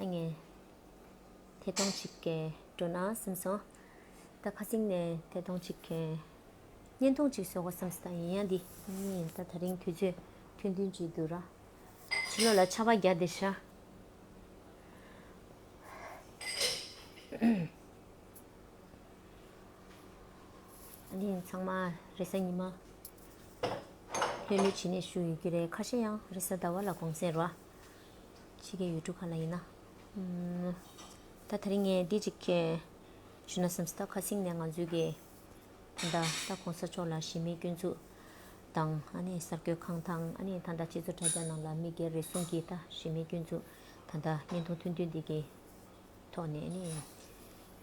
ཨ་མྱེས། ཐེ་གཏོང་བྱེད་མཁན་འགྲོ་ན་སེམས་སོང། ད་ཁ་སིང་ནས་ཐེ་གཏོང་བྱེད་མཁན། བརྙན་ཐུང་ཅིག་བཟོ་གོ་བསམ་ས་ཡིན་ཡ་འདི། ཨ་མྱེས་ད་ད་རིང་དུས་ཚོད་ཐུང་མཐུན་གྱིས་འདུག་ར། ཕྱི་ལོགས་ལ་ཆར་བ་བརྒྱག་བསྡད་ཤག། ཨ་མྱེས་ཚང་མ་རེ་ས་ཉི་མ། ལྷོད་ལྷོད་བྱེད་ནས་བཞུགས་ཡོད་ཀྱི་རེད་ཁ་ཤས་ཡང་རེ་ས་ཟླ་བ་ལ་དགོང་ཟས་རོགས། ཕྱི་རྒྱལ་ཡུལ་གྲུ་གང་ན་ཡིན་ན། ད་ད་རིང་ངས་འདི་གཅིག་ཞུ་ན་སེམས་ད་ཁ་སིང་ནས་ང་ཚོའི་གི་ད་ལྟ་གོང་ས་མཆོག་ལ་གཞི་མེད་སྐྱོན་འཛུགས་དང་ཨ་ནི་གསར་འགོད་ཁང་དང་ཨ་ནི་ད་ད་སྤྱི་ཚོགས་དྲ་རྒྱ་ནང་ལ་མི་སྒེར་རེ་ཟུང་གི་ད་གཞི་མེད་སྐྱོན་འཛུགས་ད་ད་བརྙན་ཐུང་ཐུང་ཐུང་འདི་གི་ཐོག་ནས་ཨ་ནི་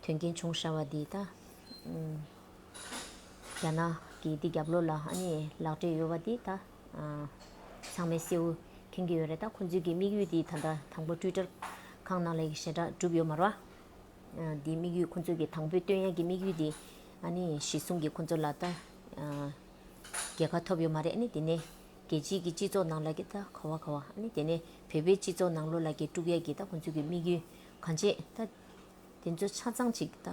དོན་རྐྱེན་བྱུང་ཤར་བ་འདི་ད་རྒྱ་ནག་གི་འདི་རྒྱབ་ལོག་ལ་ཨ་ནི་ལག་འབྲེལ་ཡོད་བ་འདི་ད། ཚང་མས་སེའུ། མཁྱེན་གྱི་ཡོད་རེད་ད་ཁོ་ཚོའི་གི་དམིགས་ཡུལ་དེ་ད་ལྟ་དང་པོ་དཀྲུས་དཀྲར། ཁང་ནང་ལས་གི་ཞེ་དྲག་གྲུབ་ཡོད་མ་རོ། དེ་དམིགས་ཡུལ་ཁོ་ཚོའི་གི་དང་པོའི་བསྟོད་དབྱངས་གི་དམིགས་ཡུལ་དེ། ཨཱ་ནི་ཞེ་གསུངས་གི་ཁོ་ཚོ་ལ་ད། རྒྱལ་ཁ་ཐོབ་ཡོད་མ་རེད་ཨཱ་ནི་དེ་ནས། རྒྱལ་སྤྱིའི་གི་སྤྱི་ཚོགས་ནང་ལ་གི་ད་ཁ་བ་ཁ་བ་ཨཱ་ནི་དེ་ནས་བོད་པའི་སྤྱི་ཚོགས་ནང་ལོ་ལ་གི་དཀྲུག་ཡ་གི་ད་ཁོ་ཚོའི་གི་དམིགས་ཡུལ་གང་བྱས་ད། དེ་ཚོ་ཆ་ཚང་ཅིག་ད།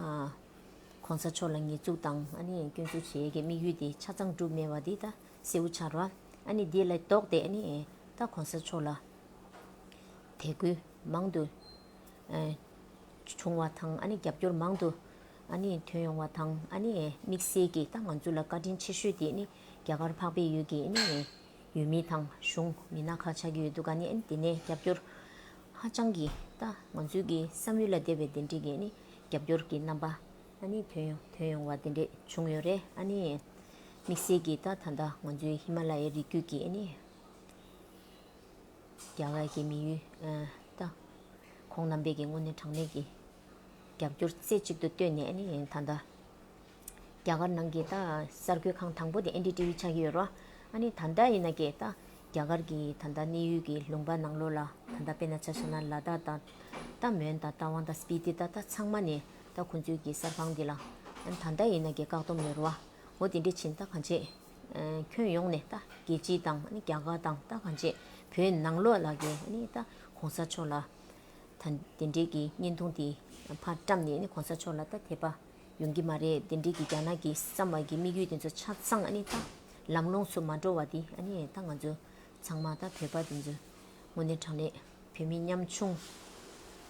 གོང་ས་མཆོག་ལ་ཉེས་འཛུགས་དང་ཨཱ་ནི་སྐྱོན་འཛུགས་བྱེད་ཡ་གི་དམིགས་ཡུལ་དེ་ཆ་ཚང་གྲུབ་མེད་བ་དེ་ད། སེའུ་ཆར་བ། ཨ་ནི་འདི་ལ་ལྡོག་སྟེ་ཨ་ནི། ད་གོང་ས་མཆོག་ལ། དད་གུས་མང་དུ། བྱུང་བ་དང་ཨ་ནི་རྒྱབ་སྐྱོར་མང་དུ། ཨ་ནི་ཐོན་ཡོང་བ་དང་ཨ་ནི། དམིགས་བསལ་གྱིས་ད་ང་ཚོ་ལ་བཀའ་དྲིན་ཆེ་ཤོས་དེ་ཨ་ནི། རྒྱ་གར་འཕགས་པའི་ཡུལ་གྱི་ཨ་ནི། ཡུལ་མི་དང་གཞུང་མི་སྣ་ཁག་ཆགས་ཀྱི་ཡོད་འདུག་ཨ་ནི་དེ་ནས་རྒྱབ་སྐྱོར། ཧ་ཅང་གིས་ད་ང་ཚོའི་གི་བསམ་ཡུལ་ལ་དད་པའི་གདན་འདྲེན་གྱི་ཨ་ནི། རྒྱབ་སྐྱོར་གྱི་རྣམ་པ། ཨ་ནི་དོན་ཡོང་དོན་ཡོང་བ་དེ་འདྲས་བྱུང་ཡོད་རེད་ཨ་ནི། དམིགས་བསལ་གྱིས་ད་ད་ལྟ་ང་ཚོའི་ཧི་མ་ལ་ཡའི་རི་རྒྱུད་ཀྱི་ཨ་ནི། རྒྱ་གར་གྱི་མི་ཡུལ་ད། ཁོང་རྣམ་པས་ཀྱི་དངོས་གནས་དྲང་གནས་ཀྱི། རྒྱབ་སྐྱོར་རྩེ་གཅིག་ཏུ་བཏོན་ནས་ཨ་ནི་ད་ད། རྒྱ་གར་ནང་གི་ད་གསར་འགོད་ཁང་དང་པོ་དེ་ཨན་ཏི་ཏི་བི་ཆགས་ཀྱི་ཡོད་རོ། ཨ་ནི་ད་ད་ཡིན་ན་ཀྱེ་ད། རྒྱ་གར་གྱི་ད་ད་གནས་ཡུལ་གྱི་ལུང་པ་ནང་ལོགས་ལ་ད་ད་དཔེ་ན་ཆ་ཤ་ན་ལ་ད་ད། ད་མོན་ད་ད་ཝང་ད་སྤི་ཏི་ད་ད་ཚང་མ་ནི་ད་ཁོ་ཚོའི་གེ་སར་ཁང་འདི་ལ། ད་ལྟ་ཡིན་ན་རྒྱལ་བཀག་སྡོམ་ནས་རུ་བ། འོ་དེ་འདྲའི་བྱིན་ད་གང་བྱེད། ཁྱོན་ཡོངས་ནས་ད་རྒྱལ་སྤྱི་དང་རྒྱ་གར་དང་ད་གང་བྱེད། བོད་ནང་ལོག་ལ་གེ་ད་གོང་ས་མཆོག་ལ། ད་དེ་འདྲའི་གེ་བརྙན་ཐུང་དེ་ཕར་བཀྲམ་ནས་ནི་གོང་ས་མཆོག་ལ་ད་དེད་པ། ཡོང་གི་མ་རེད་དེ་འདྲའི་གེ་རྒྱ་ནག་གེ་བསམ་བ་གེ་དམིགས་ཡུལ་དེ་ཚོ་ཆ་ཚང་ཨ་ནི་ད། ལམ་ལོང་སུ་མ་འགྲོ་བ་དེ་ཨ་ནི་ད་ང་ཚོ། ཚང་མ་དང་བོད་པ་དེ་ཚོས་དངོས་གནས་དྲང་གནས་བོད་མི་ཉམ་ཆུང་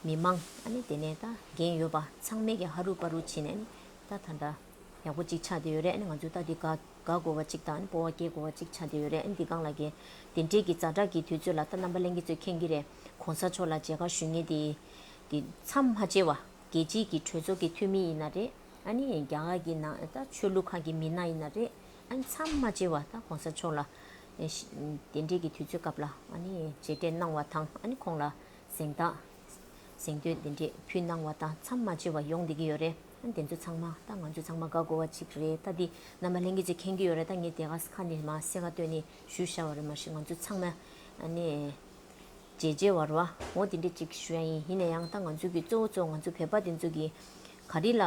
མི་མང་ཨ་ནི་དེ་ནས་ད་འགན་ཡོད་པ་ཚང་མས་ཀྱི་ཧ་རུ་པ་རུ་བྱེད་ནས་ནི་ད་ད་འདྲ་ཡག་པོ་ཅིག་ཆགས་བསྡད་ཡོད་རེད་ཨ་ནི་ང་ཚོས་ད་འདི་དགའ་དགོས་བ་ཅིག་དང་སྤོ་བ་སྐྱེ་དགོས་བ་ཅིག་ཆགས་བསྡད་ཡོད་རེད་ཨ་ནི་འདི་སྒང་ལ་དགེ་དེ་འབྲེལ་གྱི་ཛར་དྲག་གི་དུས་ཚོད་ལ་ད་རྣམ་པ་གླེང་གི་ཚོད་མཁྱེན་གྱི་རེད་གོང་ས་མཆོག་ལ་མཇལ་ཁ་ཞུས་ངེས་དེ་དེ་མཚམས་མ་བཅད་བ་རྒྱལ་སྤྱིའི་གྱི་གྲོས་ཚོགས་གྱི་འཐུས་མི་ཡིན་ན་རེད་ཨ་ནི་རྒྱ་གར་གྱི་ནང་ད་ཆོས་ལུགས་ཁག་གྱི་མི་སྣ་ཡིན་ན་རེད་ཨ་ནི་མཚམས་མ་བཅད་བ་ད་གོང་ས་མཆོག་ལ་དེ་འབྲེལ་གྱི་དུས་ཚོད་སྐབས་ལ་རྗེས་དྲན་གནང་བ་དང་ཁོང་ལ་གཟེངས་རྟགས་གཟེངས་བསྟོད་དེ་འབྲེལ་ཕུལ་གནང་བ་དང་མཚམས་མ་ཆད་པ་ཡོང་བསྡད་ཀྱི་ཡོད་རེད་དེ་ཚོ་ཚང་མ་ད་ང་ཚོ་ཚང་མ་དགའ་དགོས་བ་ཅིག་རེད་ད་འདི་ནམ་མ་ལྷན་རྒྱས་ཅིག་ཁེངས་ཀྱི་ཡོད་རེད་ད་ངས་དེ་ག་ཁ་ནས་མ་གསལ་ཁ་ཏོན་ནས་ཞུས་ཤར་བ་རེད་མ་གཞི་ང་ཚོ་ཚང་མ་རྗེས་རྗེས་བར་བ་ངོ་དེ་འདྲས་ཅིག་ཞུ་ཡ་ཡིན་ཡིན་ན་ཡང་ད་ང་ཚོ་གི་གཙོ་བོ་གཙོ་བོ་ང་ཚོ་བོད་པ་དེ་ཚོ་གི་ག་རེ་ལ་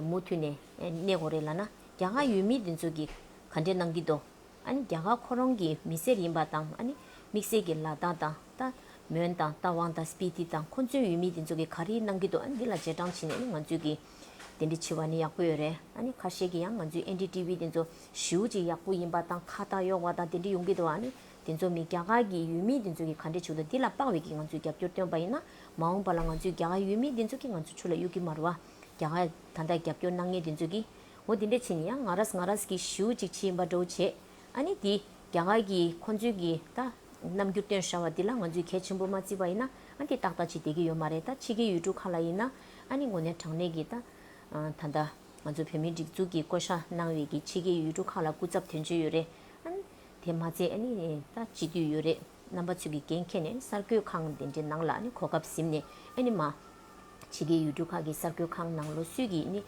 མུ་མཐུད་ནས་གནས་དགོས་རེད་ལ་ན་རྒྱ་གར་ཡུལ་མི་དེ་ཚོ་གི་ག་འདྲས་གནང་གི་འདུག་ཨ་ནི་རྒྱ་གར་ཁོ་རང་གི་མི་སེར་ཡིན་པ་དང་ཨ་ནི་དམིགས་བསལ་གྱི་ལ་དྭགས་དང་རྟ། མོན་དང་རྟ་དབང་དང་སྤི་ཏི་དང་ཁོ་ཚོའི་ཡུལ་མི་དེ་ཚོ་གི་ག་རེའི་ནང་གི་འདུག་ཨ་ནི་འདི་ལ་རྗེས་འབྲང་བྱིན་ནས་ནི་ང་ཚོས་ཀྱི་དེ་འདྲི་བྱེད་པ་ནི་ཡག་པོ་ཡོད་རེད་ཨ་ནི་ཁ་ཤས་ཀྱི་ཡང་ང་ཚོའི་ཨན་དྲི་ཏི་བི་དེ་ཚོ་ཞིའུ་ཅིག་ཡག་པོ་ཡིན་པ་དང་ཁ་བཏགས་གཡོག་བ་དང་དེ་འདྲི་ཡོང་གི་འདུག་ཨ་ནི་དེ་ཚོ་མི་རྒྱ་གར་གྱི་ཡུལ་མི་དེ་ཚོ་གི་ག་འདྲི་བྱུག་འདུག་འདི་ལ་དཔག་བས་ཀྱི་ང་ཚོས་རྒྱབ་སྐྱོར་བཏོན་པ་ཡིན་ན་མ་འོངས་པ་ལ་ང་ཚོའི་རྒྱ་གར་ཡུལ་མི་དེ་ཚོ་གི་ང་ཚོ་ཆུ་ལ་གཡུག་གི་མ་རུ་ཨ་རྒྱ་གར་ད་ལྟ་རྒྱབ་སྐྱོར་གནང་མཁན་དེ་ཚོ་གི་ངོ་དེ་འདྲས་བྱས་ནས་ཡང་ང་ར་ང་ར་ཀྱི་ཞུ་ཅིག་ཕྱིན་པ་འགྲོ་བྱས། ཨ་ནི་དེ་རྒྱ་གར་གྱི་ཁོང་ཚོའི་གི་ད། རྣམ་འགྱུར་སྟོན་ཧྲ་བ་དེ་ལ་ང་ཚོས་གལ་ཆེན་པོ་མ་བརྩི་བ་ཡིན་ན་དེ་ཏག་ཏག་ཅིག་བསྡད་ཀྱི་ཡོད་མ་རེད་ད་ཕྱི་རྒྱལ་ཡུལ་གྲུ་ཁག་ལ་ཡིན་ན་ཨ་ནི་ངོ་ནས་དྲང་གནས་གི་ད། ད་ལྟ་ང་ཚོ་བོད་མིའི་སྒྲིག་འཛུགས་ཀྱི་བསྐོ་བཞག་གནང་བའི་གི་ཕྱི་རྒྱལ་ཡུལ་གྲུ་ཁག་ལ་སྐུ་ཚབ་དོན་གཅོད་ཡོད་རེད། ཨ་ནི་དེ་མ་ཚད་ཨ་ནི་ད་སྤྱི་འཐུས་ཡོད་རེད། རྣམ་པ་ཚོས་ཀྱི་འགན་འཁྱེར་ནས་གསར་སྐྱོད་ཁང་དེ་འདྲའི་ནང་ལ་ནི་གོ་སྐབས་ཟིན་ནས་ཨེ་ནི་མ། ཕྱི་རྒྱལ་ཡུལ་གྲུ་ཁག་གི་གསར་སྐྱོད་ཁང་ནང་ལོ་སུས་ཀྱིས་ནི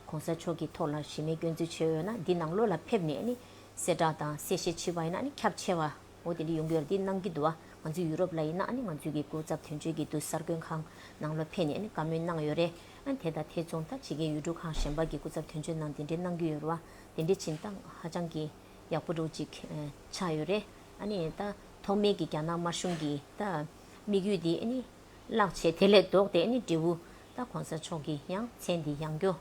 ྋགོང་ས་མཆོག་གི་ཐོག་ལ་གཞི་མེད་སྐྱོན་འཛུལ་བྱེད་འོས་ན་འདི་ནང་ལོ་ལ་ཕེབས་ནས་ནི་གསལ་བསྒྲགས་དང་གསལ་བཤད་བྱེད་པ་ཡིན་ན་ནི་ཁྱབ་ཆེ་བ། འོ་དེ་འདྲ་ཡོང་གི་ཡོད་རེད་འདི་གནང་གི་འདུག་ང་ཚོ་ཡུ་རོབ་ལ་ཡིན་ན་ནི་ང་ཚོའི་གི་སྐུ་ཚབ་དོན་གཅོད་ཀྱི་འདུག་གསར་སྐྱོད་ཁང་ནང་ལོ་ཕེབས་ནས་ནི་བཀའ་མོལ་གནང་ཡོད་རེད་དེ་དང་དེ་མཚུངས་ད་ཕྱི་རྒྱལ་ཡུལ་གྲུ་ཁག་གཞན་པ་གི་སྐུ་ཚབ་དོན་གཅོད་ནང་དེ་འདྲའི་གནང་གི་ཡོད་རེད་བ་དེ་འདྲའི་བྱིན་བཏང་ཧ་ཅང་གི། ཡག་པོ་འདུག་ཅིག་ཆགས་ཡོད་རེད། ཨ་ནི་ད་ཐོག་མེད་ཀྱི་རྒྱ་ནག་དམར་གཞུང་གིས་ད་དམིགས་ཡུལ་འདི་ཨ་ནི་བརླག་བྱས་དེ་ལས་ལྡོག་སྟེ་ཨ་ནི་འབྲས་བུ་ད་གོང་ས་མཆོག་གིས་ཡང་མཚན་འདི་ཡང་སྐྱོ།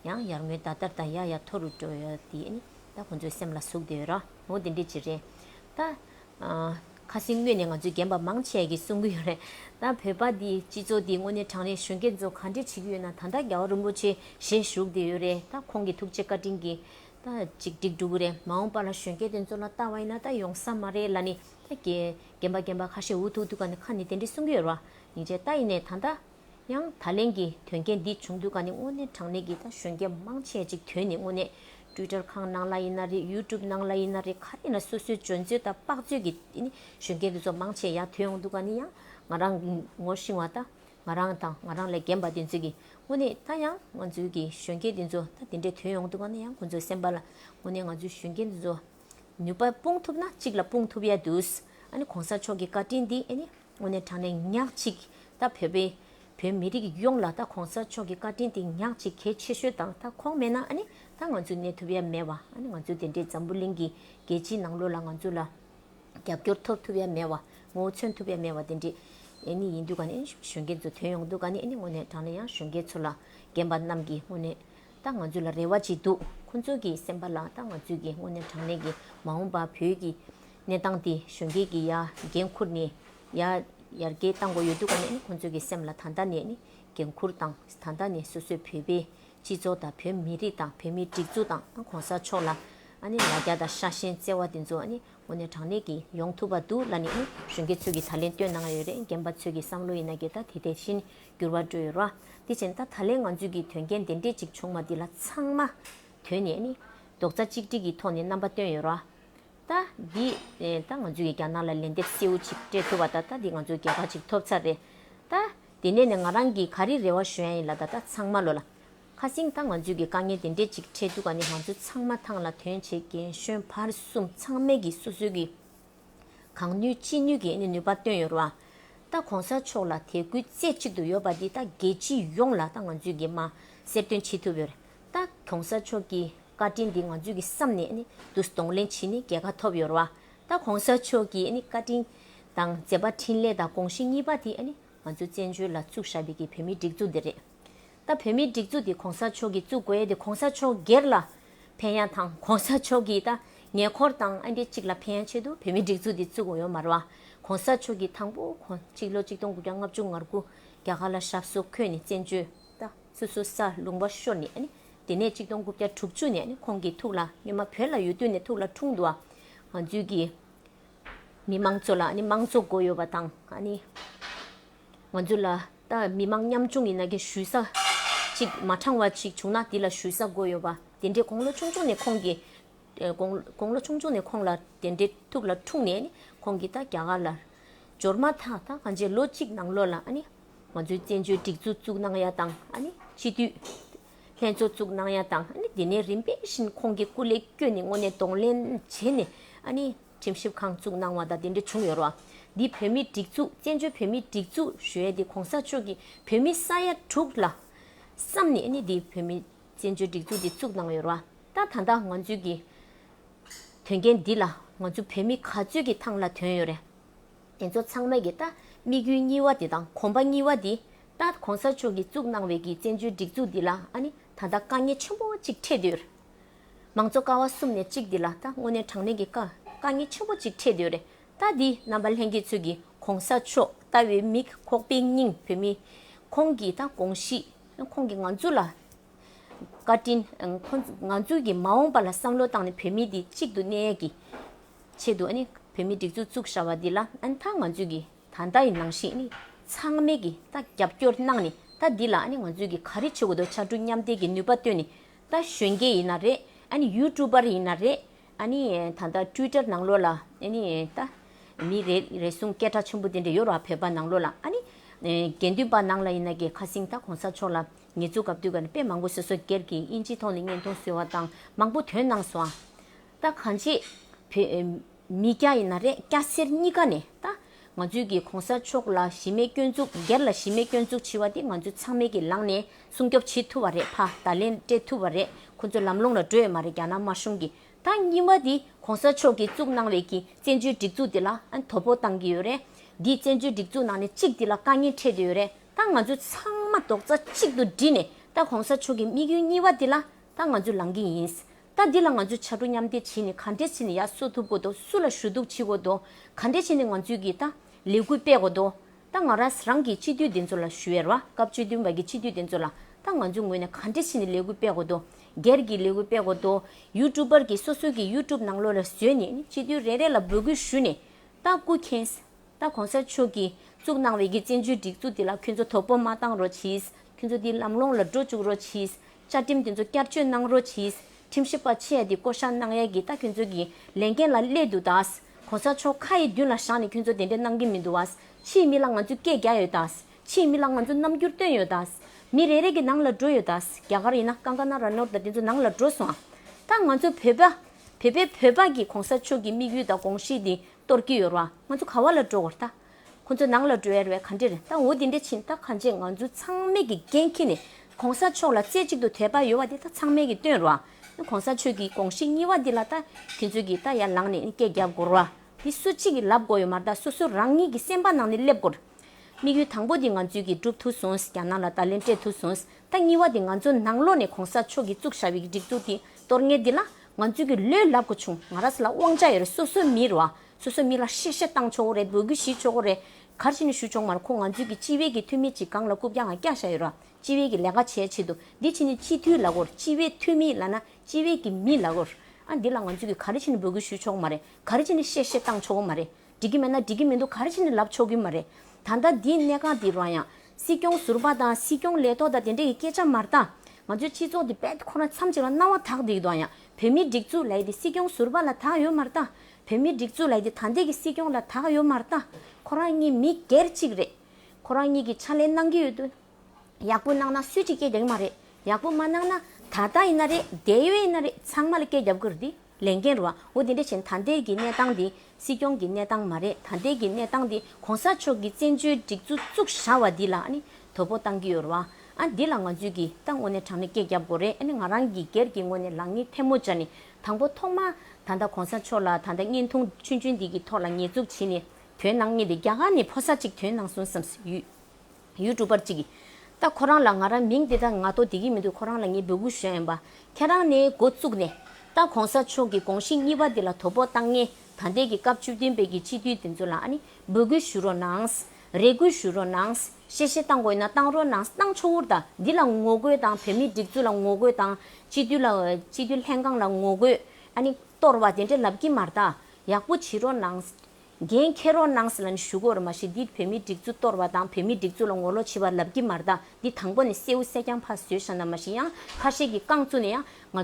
ཡང་ཡར་ངོའི་ཟླ་ལྟར་ད་ཡ་ཡ་མཐོ་རུ་འགྲོ་ཡོད་འདི་ཨ་ནི་ད་ཁོང་ཚོའི་སེམས་ལ་ཟུག་བསྡད་ཡོད་ར་ངོ་དེ་འདྲས་ཅིག་རེད། ད་ཁ་སེང་དངོས་ནས་ང་ཚོའི་རྒན་པ་མང་ཆས་ཀྱིས་གསུང་གི་ཡོད་རེད། ད་བོད་པ་འདི་སྤྱི་ཚོགས་འདི་དངོས་ནས་དྲང་རེད་གཞོན་སྐྱེས་ཚོ་ག་འདྲས་བྱེད་ཀྱི་ཡོད་ན་ད་ད་རྒྱ་བ་རིན་པོ་ཆེ་ཞེས་བཞུགས་བསྡད་ཡོད་རེད་ད་ཁོང་གི་ཐུགས་རྗེ་བཀའ་དྲིན་གྱིས་ད་ཅིག་འགྲིག་འགྲོ་གི་རེད་མ་འོངས་པ་ལ་གཞོན་སྐྱེས་དེ་ཚོ་ལ་ལྟ་བ་ཡིན་ན་ད་ཡོང་ས་མ་རེད་ལ་ནི་ད་རྒན་པ་རྒན་པ་ཁ་ཤས་འུ་ཐུག་འདུག་ག་ནི་ཁ་ནི་དེ་འདྲི་གསུང་གི་ཡོད་ར་ཡིན་ཅེ་ད་ཡིན་ནའི་ད་ད། ཡང་ད་ལན་གྱི་དོན་རྐྱེན་འདི་བྱུང་འདུག་ག་ནི་དངོས་གནས་དྲང་གནས་ཀྱི་ད་གཞོན་སྐྱེས་མང་ཆེ་ཅིག་དོན་ནི་དངོས་གནས Twitter ཁང་ནང་ལ་ཡིན་ན་རེད YouTube ནང་ལ་ཡིན་ན་རེད་ག་རེ་ཡིན་ན་སོ་སོའི་འཇོན་ཚོད་ད་དཔག་ཚོད་ཀྱི་དེ་ནི་གཞོན་སྐྱེས་དེ་ཚོ་མང་ཆེ་ཡ་ཐོས་ཡོང་འདུག་ག་ནི་ཡང་ང་རང་ངོ་ཤེས་བ་ད་ང་རང་དང་ང་རང་ལས་རྒན་པ་དེ་ཚོས་ཀྱི་དངོས་གནས་ད་ཡང་ང་ཚོའི་ཀྱི་གཞོན་སྐྱེས་དེ་ཚོ་ད་དེ་འདྲའི་དོན་ཡོང་འདུག་ང་ན་ཡང་ཁོ་ཚོའི་སེམས་པ་ལ་དངོས་གནས་ང་ཚོའི་གཞོན་སྐྱེས་དེ་ཚོ་ནུས་པ་སྤུངས་ཐུབ་ན་གཅིག་ལ་སྤུངས་ཐུབ་ཡ་འདུག་ཨ་ནི་གོང་ས་མཆོག་གི་བཀའ་དྲིན་འདི་ཨ་ནི་དངོས་གནས་དྲང་ནས་ཉག་གཅིག་ད་བོད་པའི་བོད་མི་རིགས་ཡོངས་ལ་ད་གོང་ས་མཆོག་གི་བཀའ་དྲིན་དེ་ཉག་གཅིག་གལ་ཆེ་ཤོས་དང་ད་ཁོང་མེད་ན་ཨ་ནི་ད་ང་ཚོས་གནས་ཐུབ་ཡ་མེད་བ་ཨ་ནི་ང་ཚོའི་དེ་འདྲའི་འཛམ་བུ་གླིང་གི་རྒྱལ་སྤྱིའི་ནང་ལོ་ལ་ང་ཚོ་ལ་རྒྱབ་སྐྱོར་ཐོབ་ཐུབ་ཡ་མེད་བ། ངོ་བོ་མཚོན་ཐུབ་ཡ་མེད་བ་དེ་འདྲས་ནི་ཡིན་འདུག་ག་ནི་གཞོན་སྐྱེས་ཚོ་དོན་ཡོང་འདུག་ག་ནི་ནི་དངོས་གནས་དྲང་ན་ཡང་གཞོན་སྐྱེས་ཚོ་ལ་རྒན་པ་རྣམས་ཀྱིས་དངོས་གནས་ད་ང་ཚོ་ལ་རེ་བ་ཅི་འདུག་ཁོང་ཚོ་གིས་སེམས་པ་ལ་ད་ང་ཚོས་ཀྱིས་དངོས་གནས་དྲང་གནས་ཀྱིས་མ་འོངས་པ་བོད་ཀྱི་གནས་སྟངས་དེ་གཞོན་སྐྱེས་ཀྱིས་ཡ་འགན་འཁུར་ནས་ཡ་ཡར་རྒྱས་བཏང་དགོས་ཡོད་འདུག་ག་ནི་ནི་ཁོང་ཚོ་གིས་སེམས་ལ་ད་ལྟ་ནས་ནི་འགན་འཁུར་དང་ད་ལྟ་ནས་སོ་སོས་བོད་པའི་སྤྱི་ཚོགས་དང་བོད་མི་རིགས་དང་བོད་མིའི་སྒྲིག་འཛུགས་དང་གོང་ས་མཆོག་ལ་ཨ་ནི་ལ་རྒྱ་དང་ཤ་ཞེན་བརྩེ་བ་དེ་ཚོ་ཨ་ནི། དངོས་གནས་དྲང་གནས་ཀྱིས་ཡོང་ཐུབ་པ་འདུག་ལ་ནི་ཨང་གཞོན་སྐྱེས་ཚོས་ཀྱིས་ད་ལན་བསྟོད་གནང་ཡོད་རེད་རྒན་པ་ཚོས་ཀྱིས་བསམ་བློ་ཡིན་ན་གྱི་ད་དེ་དེ་བཞིན་འགྱུར་བ་འགྲོ་ཡོད་ར་དེ་བཞིན་ད་ད་ལན་ང་ཚོས་ཀྱིས་དོན་རྐྱེན་དེ་འདྲས་ཅིག་བྱུང་མ་འདི་ལ་ཚང་མ་དོན་ནས་ནི་རྡོག་རྩ་གཅིག་སྒྲིལ་གྱི་ཐོག་ནས་རྣམ་པ་བཏོན་ཡོད་ར་ད་འདི་ད་ང་ཚོས་ཀྱིས་རྒྱ་ནག་ལ་ལན་འདེབས་གསལ་བོ་ཅིག་སྤྲད་ཐུབ་པ་ད་ད་འདི་ང་ཚོས་རྒྱལ་ཁ་ཅིག་ཐོབ་ཚར་རེད་ད་དེ་ནས་ནི་ང་རང་གིས་ག་རེ་རེ་བ་ཞུ་ཡ་ཡིན་ལ་ད་ད་ཚང་མ་བློ་ལ། ཁ་བསྲིངས་དང་ང་ཚོས་ཀྱི་དཀའ་ངལ་དེ་འདྲས་ཅིག་འཕྲད་འདུག་ག་ནི་ང་ཚོ་ཚང་མ་ཐང་ལ་དོན་བྱེད་རྒན་གཞོན་བར་གསུམ་ཚང་མས་ཀྱི་སོ་སོའི་ཀྱི་གང་ནུས་ཅི་ནུས་ཀྱི་ནུས་པ་བཏོན་ཡོད་རོ། ད་གོང་ས་མཆོག་ལ་དད་གུས་རྩེ་གཅིག་ཏུ་ཡོད་པ་འདི་ད་རྒྱལ་སྤྱི་ཡོངས་ལ་ད་ང་ཚོས་ཀྱི་མ་གསེར་སྟོན་བྱེད་ཐུབ་ཡོད། ད་གོང་ས་མཆོག་ཀྱི་བཀའ་དྲིན་འདི་ང་ཚོས་ཀྱི་བསམ་ནས་ནི་བསྡུ་གཏོང་ལེན་བྱེད་ནི་རྒྱལ་ཁ་ཐོབ་ཡོད་རོ། ད་གོང་ས་མཆོག་ཀྱི་ནི་བཀའ་དྲིན་དང་མཛད་པ་འཕྲིན་ལས་དང་དགོངས་གཞི་གཉིས་པ་དེ་ནི་ང་ཚོ་བཙན་བྱོལ་ལ་བཙུགས་བཞག་པའི་ཀྱི་བོད་མིའི་སྒྲིག་འཛུགས་འདི་རེད། ད་བོད་མིའི་སྒྲིག་འཛུགས་འདི་གོང་ས་མཆོག་གིས་བཙུགས་དགོས་ཡས་དེ་གོང་ས་མཆོག་སྒེར་ལ་ཕན་ཡ་དང་གོང་ས་མཆོག་གིས་ད་ཉེ་འཁོར་དང་ཨ་འདི་གཅིག་ལ་ཕན་ཡ་ཆེད་དུ་བོད་མིའི་སྒྲིག་འཛུགས་འདི་བཙུགས་དགོས་ཡོད་མ་རུང་གོང་ས་མཆོག་གིས་དང་པོ་གོ་གཅིག་ལོ་གཅིག་སྟོང་དགུ་བརྒྱ་ལྔ་བཅུ་ང་དགུ་རྒྱ་གར་ལ་ཞབས་སུ་འཁོད་ནས་བཙན་བྱོལ་ད་སོ་སོ་ས་ལུང་པ་ཤོར་ནས་ཨ་དེ་ནས་གཅིག་སྟོང་དགུ་བརྒྱ་དྲུག་ཅུ་ནས་ཨ་ཁོང་གིས་ཐུགས་ལ་སྙོ་མ་བོད་ལ་ཡོད་དུས་ནས་ཐུགས་ལ་འཁྲུངས་འདུག་ང་ཚོའི་གི་མི་མང་ཚོ་ལ་ཨ་མང་གཙོ་དགོས་ཡོད་པ་དང་ཨ་ནི། ང་ཚོ་ལ་ད་མི་མང་ཉམ་ཆུང་ཡིན་ན་དགེ་བཤུས་ས་ཅིག་མ་དྲང་བ་ཞིག་བྱུང་ན་དེ་ལ་བཤུས་ས་དགོས་ཡོད་པ་དེ་འདྲའི་དགོང་ལོ་ཆུང་ཆུང་ནས་ཁོང་གི་དགོང་ལོ་ཆུང་ཆུང་ནས་ཁོང་ལ་དེ་འདྲའི་ཐུགས་ལ་འཁྲུངས་ནས་ནི་ཁོང་གིས་ད་རྒྱ་གར་ལ་འབྱོར་མ་ཐག་ད་ང་ཚོས་ལོ་གཅིག་ནང་ལོགས་ལ་ཨ་ནི་ང་ཚོའི་བཙན་བྱོལ་སྒྲིག་འཛུགས་བཙུགས་གནང་ཡ་དང་ཨ་ནི་སྤྱི་འཐུས་ལྷན་ཚོགས་བཙུགས་གནང་ཡ་དང་ཨ་ནི་དེ་ནས་རིམ་པས་བཞིན་ཁོང་གི་སྐུ་ལས་བསྐྱོན་ནས་སྔོན་ནས་གདོང་ལེན་བྱས་ནས་ཨ་ནི། ཁྲིམས་ཞིབ་ཁང་བཙུགས་གནང་བ་དང་དེ་འབྲེལ་བྱུང་ཡོད་རོགས་འདི་བོད་མིའི་སྒྲིག་འཛུགས་བཙན་བྱོལ་བོད་མིའི་སྒྲིག་འཛུགས་ཞོལ་དེ་གོང་ས་མཆོག་གིས་བོད་མི་ས་ཡ་དྲུག་ལ་བསམ་ནས་ནི་འདི་བོད་མིའི་བཙན་བྱོལ་སྒྲིག་འཛུགས་འདི་བཙུགས་གནང་ཡོད་རོགས་ད་ད་ལྟ་ང་ཚོའི་གི་དོན་རྐྱེན་འདི་ལ་ང་ཚོ་བོད་མི་ག་ཚོད་ཀྱི་ཐང་ལ་དོན་ཡོད་རེད་དེ་ཚོ་ཚང་མས་གི་ད་དམིགས་ཡུལ་གཉིས་བ་དེ་དང་གོམ་པ་གཉིས་བ་འདི་ད་གོང་ས་མཆོག་གིས་བཙུགས་གནང་བའི་གི་བཙན་བྱོལ་སྒྲིག་འཛུགས་འདི་ལ་ནི་ད་ད་དཀའ་ངལ་ཆེན་པོ་གཅིག་འཕྲད་དུས་ཡོད། མང་གཙོ་ཀ་བ་གསུམ་ནས་གཅིག་འདི་ལ་ད་དངོས་གནས་དྲང་གནས་ཀྱི་དཀའ་ངལ་ཆེན་པོ་གཅིག་འཕྲད་འདོད་རེད་ད་འདི་རྣམ་པ་ལྷན་རྒྱས་ཚོད་ཀྱི་གོང་ས་མཆོག་ལྟ་བའི་མིག་ཁོག་པའི་སྙིང་བོད་མི་ཁོང་གི་ད་དགོངས་གཞིས་ཁོང་གི་ང་ཚོ་ལ་བཀའ་དྲིན་ཁོང་ང་ཚོ་གི་མ་འོངས་པ་ལ་བསམ་བློ་བཏང་ནས་བོད་མི་འདི་གཅིག་ཏུ་གནས་ཀྱི་ཆེད་དུ་བོད་མི་སྒྲིག་འཛུགས་བཙུགས་བཞག་པ་འདི་ལ་ད་ང་ཚོས་ཀྱི་ད་ལྟ་ཡི་ནང་བཞིན་ཚང་མས་ཀྱི་ད་རྒྱབ་སྐྱོར་གནང་ནས་ད་འདི་ལ་ང་ཚོས་ཀྱི་ག་རེ་བྱེད་དགོས་དོ་ཕྱར་གྲུ་མཉམ་འདེགས་ཀྱི་ནུས་པ་བཏོན་ནས་ད་གཞོན་སྐྱེས་ཡིན་ན་རེད་ཨ་ནི་ཡུ་ཀྲུ་པར་ཡིན་ན་རེད་ཨ་ནི་ད་ལྟ་ཀྲུའི་ཀྲར་ནང་ལོགས་ལ་ཨེ་ནི་ད་མི་རེད་རེད་གསུང་སྐད་གྲགས་ཆེན་པོ་དེ་འདྲ་ཡོད་རོགས་ཨ་བོད་པ་ནང་ལོགས་ལ་ཨ་ནི་དགེ་འདུན་པ་ནང་ལ་ཡིན་ན་གི་ཁ་སིང་ད་གོང་ས་མཆོག་ལ་ངེད་ཚོ་གབ་དུས་ག་ནི་དཔེ་མང་པོ་སོ་སོ་སྒེར་གྱི་དབྱིན་ཇི་ཐོག་ནས་བརྙན་ཐུང་བཟོས་བ་དང་མང་པོ་དོན་གནང་སོང་ཨ། ད་གང་བྱེད། བོད། མི་སྐྱ་ཡིན་ན་རེད་སྐྱ་སེར་གཉིས་ཀ་ནས་ད། ང་ཚོའི་གི་གོང་ས་མཆོག་ལ་གཞི་མེད་སྐྱོན་འཛུགས་སྒེར་ལ་གཞི་མེད་སྐྱོན་འཛུགས་བྱི་བ་དེ་ང་ཚོའི་ཚང་མའི་གི་ལང་ནས་སྲུང་སྐྱོབ་བྱི་ཐུབ་བ་རེད་ཕ་ད་ལན་སྤྲད་ཐུབ་བ་རེད་ཁོ་ཚོ་ལམ་ལོང་ལ་འགྲོ་ཡོད་མ་རེད་རྒྱ་ནག་དམར་གཞུང་གི་ད་གཉིས་བ་དེ་གོང་ས་མཆོག་གི་བཙུགས་གནང་བའི་གི་བཙན་བྱོལ་སྒྲིག་འཛུགས་དེ་ལ་དོ་པོ་བཏང་གི་ཡོད་རེད་དེ་བཙན་བྱོལ་སྒྲིག་འཛུགས་ནང་ནས་གཅིག་དེ་ལ་དཀའ་ངལ་འཕྲད་དུ་ཡོད་རེད་ད་ང་ཚོའི་ཚང་མ་རྡོག་རྩ་གཅིག་ཏུ་བསྒྲིལ་ནས་ད་གོང་ས་མཆོག་གི་དམིགས་ཡུལ་གཉིས་བ་དེ་ལ་ད་ང་ཚོའི་ལང་གི་ཡིན་ད་འདི་ལ་ང་ཚོས་བྱ་གྲུ་མཉམ་འདེགས་བྱས་ནས་ག་འདྲས་བྱས་ནས་ཡར་གསོ་ཐུབ་གོ་དོ་སུ་ལ་ཞུ་གཏུག་བྱེད་གོ་དོ་ག་འདྲས་བྱས་ནས་ང་ཚོས་ཀྱི་ད་ལས་འགུལ་སྤེལ་གོ་དོ། ད་ང་རང་རང་གིས་སྤྱི་འཐུས་དེ་ཚོ་ལ་ཞུ་ཡར་བ་སྐབས་བཅུ་བདུན་པ་གི་སྤྱི་འཐུས་དེ་ཚོ་ལ་ད་ང་ཚོའི་ངོས་ནས་ག་འདྲས་བྱས་ནས་ལས་འགུལ་སྤེལ་གོ་དོ་སྒེར་གྱི་ལས་འགུལ་སྤེལ་གོ་དོ་ཡུ་ཀྲུབ་པར་གྱི་སོ་སོའི་གྱི་ཡུ་ཀྲུབ་ནང་ལོ་ལ་བཟོས་ནས་ནི་སྤྱི་འཐུས་རེ་རེ་ལ་འབོད་སྐུལ་ཞུ་ནས་ད་སྐུ་མཁྱེན། ད་གོང་ས་མཆོག་གིས་བཙུགས་གནང་བའི་གི་བཙན་བྱོལ་སྒྲིག་འཛུགས་དེ་ལ་ཁྱོད་ཚོ་དོ་པོ་མ་བཏང་རོགས་གྱིས་ཁྱོད་ཚོ་དེའི་ལམ་ལོང་ལ་འགྲོ་བཅུག་རོགས་གྱིས་བཅའ་ཁྲིམས་དེ་ཚོ་བསྐྱར་བཅོས་གནང་རོགས་གྱིས། ཁྲིམས་ཞིབ་པ་ཆེ་འདི་བསྐོ་བཞག་གནང་ཡས་གི་ད་ཁྱོད་ཚོ་གི་ལས་འགན་ལ་སླད་དུ་ད། གོ་ས་མཆོག་ཁ་ཡི་མདུན་ལ་བཞག་ནས་ཁྱོད་ཚོ་དེ་འདྲས་གནང་གི་མི་འདུག་བ། ཕྱིའི་མི་ལ་ང་ཚོས་སྐད་རྒྱག་ཡོད་ད། ཕྱིའི་མི་ལ་ང་ཚོ་རྣམ་འགྱུར་སྟོན་ཡོད་ད། མི་རེ་རེ་གི་ནང་ལ་འགྲོ་ཡོད་ད། རྒྱ་གར་ཡིན་ན་ཀང་ཀ་ན་ར་ནོར་ད་དེ་ཚོ་ནང་ལ་འགྲོ་སོང། ད་ང་ཚོ་བོད་པ། བོད་པའི་བོད་པ་གི་གོང་ས་མཆོག་གི་དམིགས་ཡུལ་ད་དགོངས་གཞི་དེ་གཏོར་གི་ཡོད་ར། ང་ཚོ་ག་བ་ལ་འགྲོ་དགོས་ད། ཁོ་ཚོ་ནང་ལ་འགྲོ་ཡ་རེད་བས་ག་འདྲེར་ད་འོ་འདི་འདྲེ་ཕྱིན་ད་ག་འཇེ་ང་ཚོ་ཚང་མེད་ཀྱི་འགན་ཁྱེར་ནས་གོང་ས་མཆོག་ལ་རྩེ་གཅིག་ཏུ་དད་པ་ཡོད་བ་དེ་ད་ཚང་མེད་ཀྱི་སྟོན་རོགས་ཨ་གོང་ས་མཆོད་ཀྱི་དགོངས་གཞི་གཉིས་བ་འདི་ལ་ད་དེ་ཚོད་ཀྱིས་ད་ཡར་ལངས་ནས་སྐད་རྒྱབ་དགོ་རོགས་ཨ་འདི་སུ་གཅིག་གི་ལབ་དགོ་ཡོད་མ་ད་སོ་སོ་རང་ཉིད་ཀྱི་སེམས་པ་ནང་ནས་སླེབ་དགོ། དམིགས་ཡུལ་དང་པོ་འདི་ང་ཚོས་ཀྱི་འགྲུབ་ཐུག་སོང་རྒྱ་ནག་ལ་ད་ལན་སྤྲད་ཐུག་སོང་ད་གཉིས་བ་འདི་ང་ཚོ་ནང་ལོག་ནས་གོང་ས་མཆོག་གྱི་གཙུག་ཞབས་ཡིག་སྒྲིག་འདུག་འདི་གཏོར་ངེས་འདི་ལ་ང་ཚོས་ཀྱི་ལོས་ལབ་དགོ་བྱུང་ང་ར་ས་ལ་དབང་ཆ་ཡོད་རེད་སོ་སོ་མི་རོགས་ཨ་སོ་སོའི་མི་ལ་གཤེ་གཤེ་བཏང་ཆོག་གོ་རེད་འབོད་སྐུལ་ཞུས་ཆོག་གོ་རེད། གར་ཞི་ནས་ཞུ་ཆོག་མ་རེད་ཁོ་ང་ཚོའི་གི་སྤྱི་བའི་གི་འཐུས་མི་གཅིག་གང་ལ་རྐུབ་ཀྱང་ཀྱང་བཞག་ཡོད་ར་སྤྱི་བའི་གི་ལས་ཀ་བྱས་ཆེད་དུ་འདི་ཕྱི་ནས་སྤྱི་འཐུས་ལ་གོ་སྤྱི་བའི་འཐུས་མི་ལ་ན་སྤྱི་བའི་གི་མི་ལ་གོ་ཨ་འདི་ལ་ང་ཚོའི་གི་གར་ཞི་ནས་འབོད་སྐུལ་ཞུས་ཆོག་མ་རེད་གར་ཞི་ནས་གཤེ་གཤེ་བཏང་ཆོག་གོ་མ་རེད་འགྲིག་གི་མེད་ན་འགྲིག་གི་མི་འདུག་གར་ཞི་ནས་ལབ་ཆོག་གི་མ་རེད་ད་ལྟ་འདི་གནས་ཁང་འདི་རང་ཡང་སྲིད་སྐྱོང་ཟུར་པ་དང་སྲིད་སྐྱོང་ལས་ཐོག་དང་དེ་འདྲས་གི་སྐད་ཆ་མ་རྟ་ང་ཚོའི་སྤྱི་ཚོགས་འདི་བད་ཁོ་རང་མཚམས་གཅིག་ལ་སྣང་བ་དག་འདི་གི་དང་ཡང་བོད་མིའི་སྒྲིག་འཛུགས་ལ་ཡི་འདི་སྲིད་སྐྱོང་ཟུར་པ་ལ་དག་ཡོད་མ་རྟ་བོད་མིའི་སྒྲིག་འཛུགས་ལ་ཡི་ད་འདི་གི་སྲིད་སྐྱོང་ལ་ད་ག་ཡོད་མ་རྟ། ཁོ་རང་གཉིས་མི་སྒེར་གཅིག་རེད། ཁོ་རང་གཉིས་ཀྱི་ཕྱག་ལས་གནང་གི་ཡོད་དུས། ཡག་པོ་གནང་ན་སུས་ཀྱིས་སྐད་རྒྱབ་གི་མ་རེད། ཡག་པོ་མ་གནང་ན་ད་ལྟ་ཡིན་ན་རེད་འདས་ཡོད་ཡིན་ན་རེད་ཚང་མ་ལ་སྐད་རྒྱབ་གི་རེད། ལས་འགན་རུ་འོ་དེ་འདྲ་བྱས་ན་ད་འདས་ཀྱི་གནས་སྟངས་འདི་སྲིད་སྐྱོང་གི་གནས་སྟངས་མ་རེད་ད་འདས་ཀྱི་གནས་སྟངས་འདི་གོང་ས་མཆོག་གི་བཙན་བྱོལ་སྒྲིག་འཛུགས་བཙུགས་ཞར་བ་འདི་ལ་ཨ་ནི་དོ་པོ་གཏང་གི་ཡོད་རུ་ཨ་འདི་ལ་ང་ཚོས་ཀྱིས་ད་ངོ་ནས་དྲང་ནས་སྐད་རྒྱབ་དགོས་རེད་ཨ་ནི་ང་རང་གི་སྒེར་གྱི་ངོ་ནས་ལག་གཉིས་ཐལ་མོ་སྦྱར་ནས་དང་པོ་ཐོག་མ། ད་ལྟ་གོང་ས་མཆོག་ལ་ད་ལྟ་བརྙན་ཐུང་ཆུང་ཆུང་འདི་གི་ཐོག་ལ་ཉེས་འཛུགས་བྱེད་ནས་དོན་གནང་ངེས་ཏེ་རྒྱ་གར་ནས་ཕོ་སར་ཅིག་དོན་གནང་སོང་བསམས་སུ་ཡོད། ཡུལ་གྲུ་པར་ཅིག་གིས། ད་ཁོ་རང་ལ་ང་རང་མིང་འདི་དང་ང་ཐོ་འདི་གི་མི་འདུག་ཁོ་རང་ལ་ངས་འབོད་སྐུལ་ཞུ་ཡ་ཡིན་པ། ཁྱེད་རང་ནས་འགོ་བཙུགས་ནས། ད་གོང་ས་མཆོག་གི་དགོངས་གཞི་གཉིས་པ་འདི་ལ་དོ་ཕོག་བཏང་ངེས་ད་ལྟའི་གི་སྐབས་བཅུ་བདུན་པའི་གི་སྤྱི་འཐུས་འདི་ཚོ་ལ་ཨ་ནི་འབོད་སྐུལ་ཞུ་རོགས་གནང། རེ་སྐུལ་ཞུ་རོགས་གནང། དཔྱད་གཞི་བཏང་དགོས་ན་བཏང་རོགས་གནང་བཏང་ཆོག་འུར་དང་འདི་ལ་ངོ་རྒོལ་དང་བོད་མིའི་སྒྲིག་འཛུགས་ལ་ངོ་རྒོལ་དང་སྤྱི་འཐུས་ལ་སྤྱི་འཐུས་ལྷན་ཁང་ལ་ངོ་རྒོལ་ཨ་ནི་གཏོར་བ་དེ་འདྲ་ལབ་ཀྱི་མར་ད་ཡག་པོ་བྱེད་རོགས་གནང། འགན་འཁྱེར་རོགས་གནང་ཟེར་ལ་ནི་ཞུ་གོར་མ་བྱེད་འདི་བོད་མིའི་སྒྲིག་འཛུགས་གཏོར་བ་དང་བོད་མིའི་སྒྲིག་འཛུགས་ལ་ངོ་ལོག་བྱེད་པ་ལབ་ཀྱི་མར་ད་འདི་དང་པོ་ནས་བསེའུ་བསད་རྐྱང་ཕ་བཟོས་ཤ་ན་མ་ཤི་ཡང་ཁ་ཤས་ཀྱི་རྐང་བཙུགས་ནས་ཡང་ང་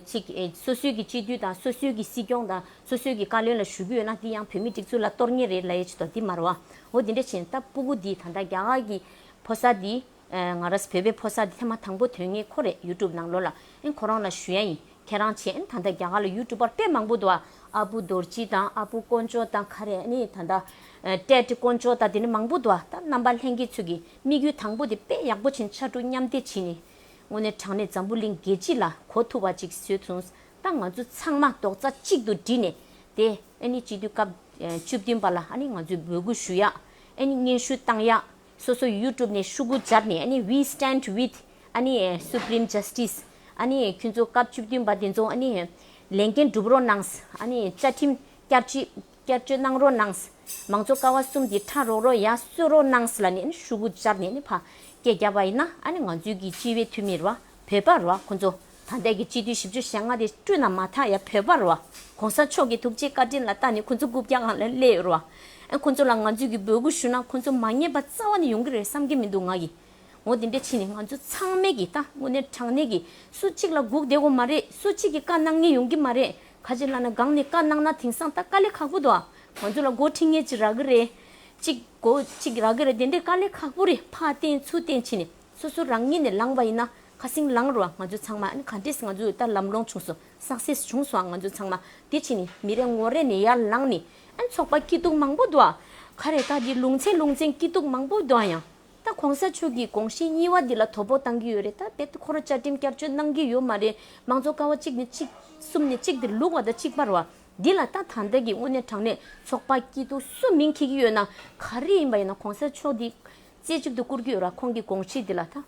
ཚོས་སོ་སོའི་ཀྱི་སྤྱི་འཐུས་དང་སོ་སོའི་ཀྱི་སྲིད་སྐྱོང་དང་སོ་སོའི་ཀྱི་བཀའ་བློན་ལ་ཞུ་རྒྱུ་ཡོད་ན་འདི་ཡང་བོད་མིའི་སྒྲིག་འཛུགས་ལ་གཏོར་ངེས་རེད་ལ་ཡས་བྱེད་དོ་འདི་མར་བ། འོ་དེ་འདྲ་བྱས་ན་ད་སྤུ་གུ་འདིས་ད་ལྟ་རྒྱ་གར་གྱི་ཕོ་གསར་འདི། ང་ར་བོད་པའི་ཕོ་གསར་འདི་ཐེངས་མ་དང་པོ་དོན་གཉེར་ཁོ་རེད་ཡུ་ཀྲུབ་ནང་ལོ་ལ་ཨེ་ཁོ་རང་ལ་ཞུ་ཡ་ཡིན་ཁྱེད་རང་བྱས་ཨེ་ད་ལྟ་རྒྱ་གར་ལ་ཡུ་ཀྲུབ་པར་དཔེ་མང་པོ་འདུག་ཨ་ཨ་པུ་རྡོར་སྐྱིད་དང་ཨ་པུ་དཀོན་མཆོག་དང་ཁ་རེ་ནི་ད་ལྟ། ཏྲེ་ཏྲེ་དཀོན་མཆོག་དང་དེ་འདྲ་མང་པོ་འདུག་ཨ་ད་རྣམ་པ་ལྷན་རྒྱས་ཚོས་ཀྱི་དམིགས་ཡུལ་དང་པོ་དེ་དཔེ་ཡག་པོ་བྱིན་ཕྱར་གྲུ་མཉམ་འདེགས་བྱིན་ནས། དངོས་གནས་དྲང་གནས་འཛམ་བུ་གླིང་རྒྱལ་སྤྱི་ལ་གོ་ཐུབ་པ་ཅིག་བཟོས་བྱུང་ད་ང་ཚོ་ཚང་མ་རྡོག་རྩ་གཅིག་ཏུ་སྒྲིལ་ནས་དེ་ཨེ་ནི་སྤྱི་འཐུས་སྐབས་བཅུ་བདུན་པ་ལ་ཨེ་ནི་ང་ཚོས་འབོད་སྐུལ་ཞུ་ཡག་ཨེ་ནི་སྙན་ཞུ་བཏང་ཡག་སོ་སོ་ཡུ་ཀྲུབ་ནས་ཤུ་གུ་སྦྱར་ནས་ཨེ་ནི we stand with ཨེ་ནི Supreme Justice ཨེ་ནི་ཁྱོད་ཚོ་སྐབས་བཅུ་བདུན་པ་དེ་ཚོ་ཨེ་ནི་ལས་འགན་སྒྲུབ་རོགས་གནང་ཨེ་ནི་བཅའ་ཁྲིམས་བསྐྱར་བཅོས་གནང་རོགས་གནང་མང་གཙོ་ཀ་བ་གསུམ་དེ་ཕྲ་རོགས་རོགས་ཡག་གསོད་རོགས་གནང་ལ་ནི་ཨེ་ནི་ཤུ་གུ་སྦྱར་ནས་ཨེ་ནི་ཕ་སྐད་རྒྱབ་པ་ཡིན་ན་ཨེ་ནི་ང་ཚོའི་གི་སྤྱི་བའི་འཐུས་མི་ར་བ་བོད་པ་ར་བ་ཁོང་ཚོ། ད་ལྟའི་གི་སྤྱི་འཐུས་བཞི་བཅུ་ཞེ་ལྔ་དེ་བསྐྲུན་ན་མ་ཐག་ཡ་བོད་པ་རུ་བ་གོང་ས་མཆོག་གི་ཐུགས་རྗེའི་བཀའ་དྲིན་ལ་ལྟ་ནས་ཁོ་ཚོ་དགུ་བརྒྱ་གང་ལ་སླེ་ཡོད་རུ་བ་ཨེ་ཁོ་ཚོ་ལ་ང་ཚོས་གི་འབོད་སྐུལ་ཞུ་ན་ཁོ་ཚོ་མ་ཉེས་པ་རྩ་བ་ནས་ཡོང་གི་རེད་བསམ་གི་མི་འདུག་ང་གི་ངོ་དེ་འདྲས་ཕྱིན་ནས་ང་ཚོ་ཚང་མས་གི་ད་དངོས་གནས་དྲང་གནས་གི་སུ་གཅིག་ལ་སྒུག་བསྡད་གོ་མ་རེད་སུ་གཅིག་གི་བཀའ་གནང་ཉེས་ཡོང་གི་མ་རེད་ཁ་ཅིག་ལ་ན་སྒང་ནས་བཀའ་གནང་ན་དེང་སང་ད་དཀའ་ལས་ཁག་པོ་འདུག་ང་ཚོ་ལ་མགོ་འཁྲིད་ངེས་ཅིག་རག་གི་རེད་ཅིག་མགོ་ཅིག་རག་གི་རེད་དེ་འདྲས་དཀའ་ལས་ཁག་པོ་རེད་ཕ་བསྟེན་ཚུ་བསྟེན་ཕྱིན་ནས། སོ་སོ་རང་ཉིད་ནས་ལངས་པ་ཡིན་ན་ཁ་སིང་ལངས་རུང་ང་ཚོ་ཚང་མ་ཨ་ནི་ག་འདྲིས་ང་ཚོ་ལྟར་ལམ་སློང་བྱུང་སོ success བྱུང་སོང་ང་ཚོ་ཚང་མ་དེ་ཕྱིན་ནས་མི་རེ་ངོ་རེ་ནས་ཡར་ལངས་ནས་ཨ་ནི་ཚོགས་པ་སྐྱིད་སྡུག་མང་པོ་འདུག་ཁ་རེ་ཁ་གི་ལུང་ཚན་ལུང་ཚན་སྐྱིད་སྡུག་མང་པོ་འདུག་ཡང་ད་གོང་ས་མཆོག་གི་དགོངས་གཞི་གཉིས་བ་འདི་ལ་དོ་ཕོག་གཏང་གི་ཡོད་རེད་ད་དེ་ཁོ་ར་བཅའ་ཁྲིམས་བསྐྱར་བཅོས་གནང་གི་ཡོད་མ་རེད་མང་ཚོགས་ཀ་བ་གཅིག་ནས་གཅིག་གསུམ་ནས་གཅིག་དེར་ལུག་བ་དང་གཅིག་པར་བ་འདི་ལ་ད་ད་ལྟ་གི་དངོས་གནས་དྲང་གནས་ཚོགས་པ་སྐྱིད་སྡུག་སུ་མིང་ཁེག་གི་ཡོད་ན་ག་རེ་ཡིན་པ་ཡིན་ན་གོང་ས་མཆོག་འདི་རྩེ་གཅིག་ཏུ་བཀུར་རྒྱུ་ལ་ཁོང་གི་དགོངས་ཆེད་འདི་ལ་ད་